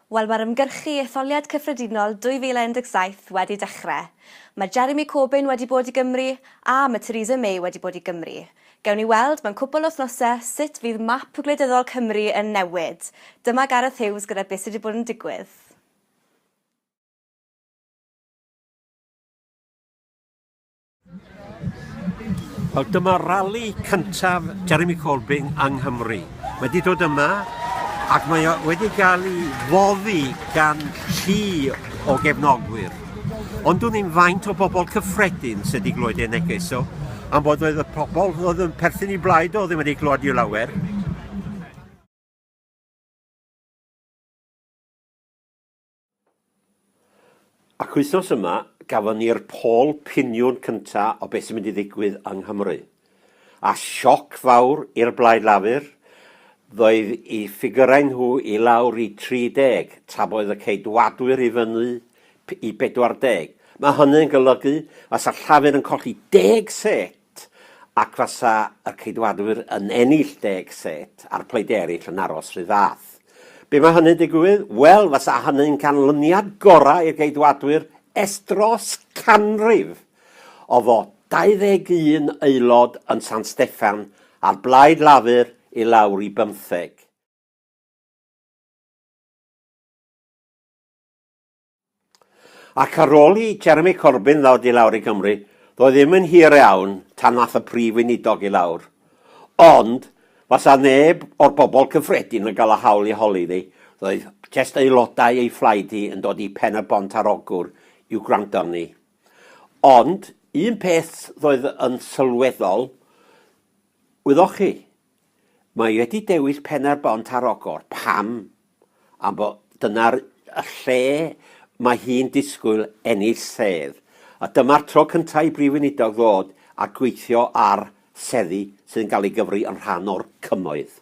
Wel, mae'r ymgyrchu etholiad cyffredinol 2017 wedi dechrau. Mae Jeremy Corbyn wedi bod i Gymru, a mae Theresa May wedi bod i Gymru. Gewn ni weld mewn cwpl o wythnosau sut fydd map gwleidyddol Cymru yn newid. Dyma Gareth Hughes gyda beth sydd wedi bod yn digwydd. Wel, dyma rali cyntaf Jeremy Corbyn yng Nghymru. Mae wedi dod yma ac mae o wedi cael ei foddi gan chi o gefnogwyr. Ond dwi'n ni'n faint o bobl cyffredin sydd wedi glwyd ei neges o, am bod oedd y pobl oedd yn perthyn i blaid o ddim wedi glwyd i'w lawer. Ac wythnos yma, gafon ni'r pôl piniwn cynta o beth sy'n mynd i ddigwydd yng Nghymru. A sioc fawr i'r Blaid Lafur, ddoedd i ffigyrau nhw i lawr i 30, tra boedd y Ceidwadwyr i fyny i 40. Mae hynny'n golygu fasa Llafur yn colli deg set! set, ac fasa y Ceidwadwyr yn ennill deg set a'r pleid eraill yn aros rhy fath. Be mae hynny'n digwydd? Wel, fasa hynny'n canlyniad gorau i'r Geidwadwyr ers dros canrif, o fod 21 aelod yn San Steffan a'r blaid Lafur i lawr i bymtheg. Ac ar ôl i Jeremy Corbyn ddod i lawr i Gymru, ddoe ddim yn hir iawn tan nath y Prif Weinidog i lawr. Ond, fasa neb o'r bobl cyffredin yn gael y hawl i holi iddi, roedd jest aelodau ei phlaid hi yn dod i Pen-y-bont ar Ogwr i'w gwrando arni. Ond, un peth ddoedd yn sylweddol, wyddoch chi, Mae wedi dewis Pen-ar-bont ar Ogor. Pam? Am bod dyna'r lle mae hi'n disgwyl ennill sedd, a dyma'r tro cyntaf i Brif Weinidog ddod a gweithio ar seddi sydd yn cael ei gyfri yn rhan o'r Cymoedd.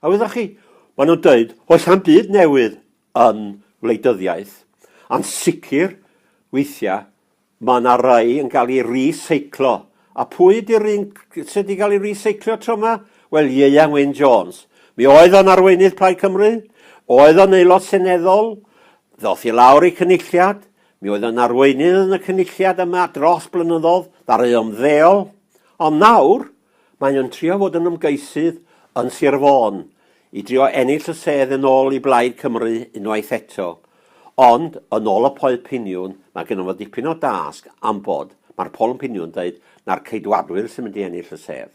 A wyddoch chi, maen nhw'n dweud, oes am byd newydd yn wleidyddiaeth, a'n sicr weithiau mae yna rai yn cael ei reseiclo. A pwy ydy'r un sydd wedi cael ei reseiclo tro yma? Wel, Ieuan Wyn Jones. Mi oedd o'n arweinydd Plaid Cymru, oedd o'n aelod seneddol, ddoth i lawr ei cynulliad, mi oedd o'n arweinydd yn y cynulliad yma dros blynyddoedd, ddaru ymddeol, ond nawr, Mae o'n trio fod yn ymgeisydd yn Sir Fôn i drio ennill y sedd yn ôl i Blaid Cymru unwaith eto, ond yn ôl y Poel Piniwn mae gynno fo dipyn o dasg am fod mae'r Poel yn Piniwn deud na'r Ceidwadwyr sy'n mynd i ennill y sedd.